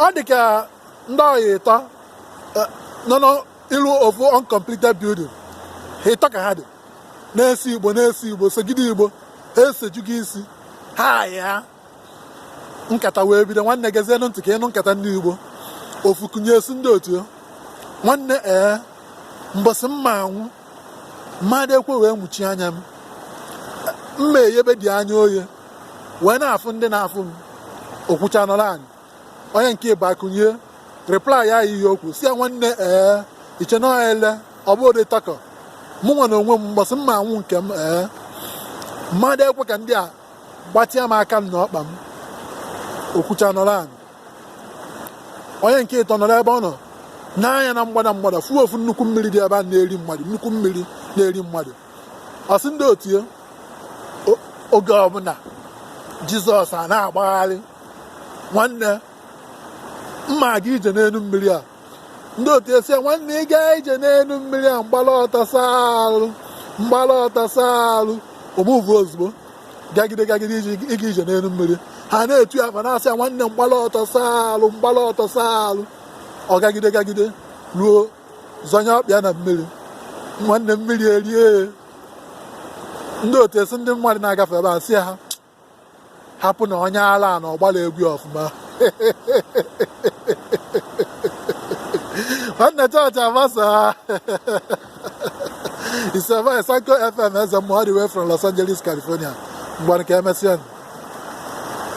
ọ dị ka ndị ọyị ịtọ nọ n'iru ofu uncompleted building ha ịtọ ka ha dị na-ese igbo na-ese igbo segide igbo ha esejugo isi ha ayị ha nkata wee bido nwanne gezienụ ntị ka ị nụ nkata ndị igbo ofu kunie sị ndị otu nwanne ee mbọsị m ma-anwụ mmadụ ekwe wee muchie anya m m ma-eyebe dị anya oye wee na-afụ ndị na-afụ m o kwucha nọrọ anị onye nke ịbụa kunie reply ya okwu sị ya nwanne ee i che na ọha ele ọ bụ ụdị takọ mụ nwa na onwe m mbọsị m ma-anwụ nke m ee mmadụ ekwe ka ndị a gbatịa m aka m na ọkpa m o kwucha nọrọ anị onye nke ịtọ nọrọ ebe ọ nọ nee anya na mgbada mgbada fụ ofu nnukwu mmiri dị ebe a na-eri mmadụ nnukwu mmiri na-eri mmadụ ọ sị ndị otu ya o- oge ọbụla jizọs a na-agbagharị nwanne m ma-aga ije n'elu mmiri a ndị otu asị ya nwanne ị gaa ije n'elu mmiri a m gbala ọtọ saa arụ m gbala ọtọ saa arụ ọ move ozugbo gagide gagide iji ịga ije n'elu mmiri ha na-etu ya ma na-asị ya nwanne m gbala ọtọ saa arụ m gbala ọtọ saa arụ ọ gagide gagide ruo zọnye ọkpa ya na mmiri nwanne mmiri erie ndị otu asị ndị mmadụ na-agafe ebe a sị ha hapụ na onye ala na ọ gbala egwu ọfụma nwanne chọọchị agbasa isema esanko fm eze mmụọ all the way from los angeles california mgbe nke emesịa